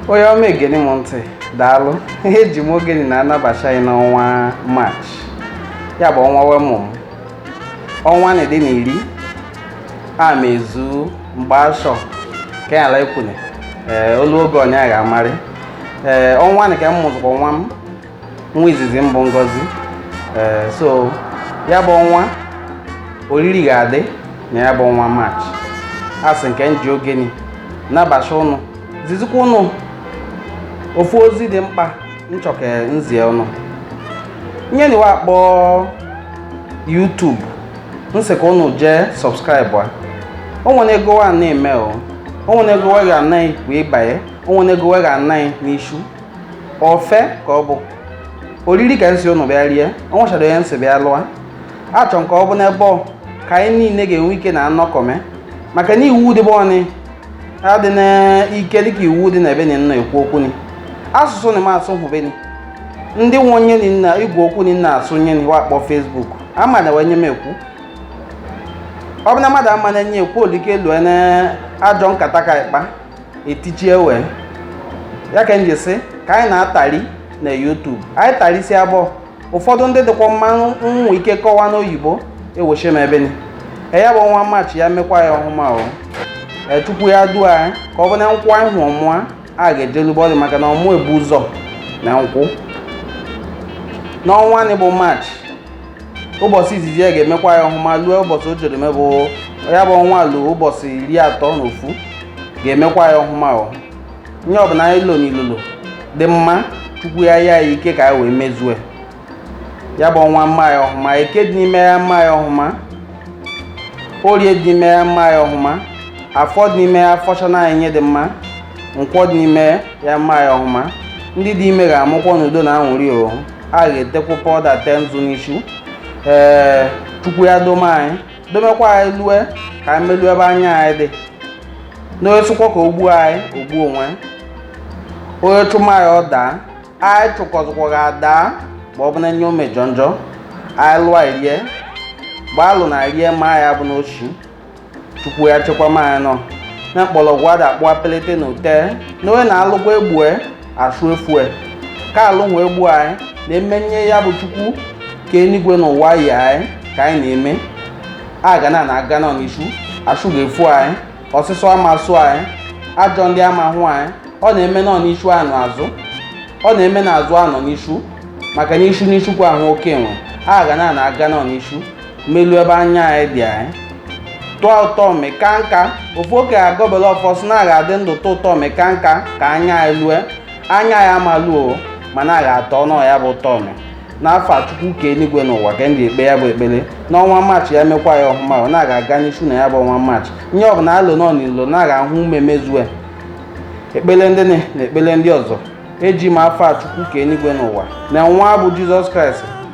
onye ọma egeni m ntị daalụ ee eji m ogeni na-anabacha anyị n'ọnwa maachị ya bụ ọnwa we mụ m ọnwa ni dị na iri a ma ezu mgbe ashọ ka ya ala ekwune ee o lu oge onye ga-amarị ee ọnwa ni ka m mụzụkwa nwa m nwa izizi mbụ ngozi ee so ya bụ ọnwa oriri ga-adị na ya bụ ọnwa maachị asị nke nji ogeni nabacha ụnụ zizikwa ụnụ ofu ozi dị mkpa nchọ ka nzie ụnụ nye ni wa akpọ YouTube nsị ka ụnụ jee subscribe a o nwere ego wa na-eme o o nwere ego wa ga-ana ghị wee banye o nwere ego wa ga-ana ghị n'ishu ofe ka ọ bụ oriri ka nsi ụnụ bịa rie ọ nwechara onye nsị bịa lụa achọ nke ọ bụ n'ebe ọ ka anyị niile ga-enwe ike na anọkọme maka na iwu dị ebe ọnị adị n'ike dịka iwu dị na ebe ni nna ekwu okwu ni asụsụ ni m asụ hụbeni ndị nwe nye ni igwe okwu ni nna asụ nye ni wa akpọ Facebook ama na we nye m ekwu ọ bụ na mmadụ ama na enye ekwu olike lue na ajọ nkata ka ịkpa etichie we ya ka nji sị ka anyị na-atari na YouTube anyị tarisi abụọ ụfọdụ ndị dịkwa mma nwe ike kọwa n'oyibo eweche m ebe ni ya bụ ọnwa maachị ya mekwa anyị ọhụma o chukwu ya duo anyị ka ọ bụ na nkwụ anyị hụ ọmụa a ga-ejelube ọdị maka na ọmụ ebu ụzọ na nkwụ n'ọnwa ni bụ maachị ụbọchị izizi ya ga-emekwa anyị ọhụma lue ụbọchị o jere mebụ ya bụ ọnwa lue ụbọchị iri atọ na ofu ga-emekwa anyị ọhụma o nye ọbụla anyị lo n'ilolo dị mma chukwu ya nye anyị ike ka anyị wee mezue ya bụ ọnwa mma anyị ọhụma eke dị n'ime ya mma anyị ọhụma orie dị n'ime ya mma anyị ọhụma afọ dị n'ime ya afọchana anyị nye dị mma nkwọ dị n'ime ya mma anyị ọhụma ndị dị ime ga-amụkwọ n'udo na anwụrị o a ga-etekwu pọda te nzu n'ishu ee chukwu ya dome anyị domekwa anyị lue ka anyị melue ebe anya anyị dị na onye sịkwa ka o gbu anyị o gbu onwe onye chụma anyị ọ daa anyị chụkọzikwa ga adaa ma ọ bụ na nye o mejọ njọ anyị lụa rie mgbe alụ na rie ma ya bụ n'ochi chukwu ya chekwama anyị nọ na mkpọrọgwụ ada akpụ apelete na ute na onye na-alụkwa egbue ashụ efue ka alụ nwe egbu anyị na emenye ya bụ chukwu ke enigwe na ụwa yi anyị ka anyị na-eme a ga na na-aga nọ n'ishu ashụ ga-efu anyị ọsịsọ ama asụ anyị ajọ ndị ama hụ anyị ọ na-eme nọ n'ishu anọ azụ ọ na-eme na azụ anọ n'ishu maka na ishu n'ishu ka ahụ oke nwa a ga na na-aga nọ n'ishu melu ebe anya anyị dị anyị tọọ ụtọmị ka nka ofu oke agọbele ọfọ sị na a ga-adị ndụ tọọ ụtọmị ka nka ka anya anyị lue anya ya amaluo mana a ga-atọnụ ya bụ ụtọmị n'afa chukwu ke enigwe n'ụwa ka ndị ekpe ya bụ ekpere n'ọnwa maachị ya mekwa ya ọhụma ọ na-aga aga n'ishu na ya bụ ọnwa maachị nye ọbụla alụ nọ n'ilo na-aga ahụ ume mezue ekpere ndị na na ekpere ndị ọzọ eji m afa chukwu ke enigwe n'ụwa na nwa bụ jizọs kraịst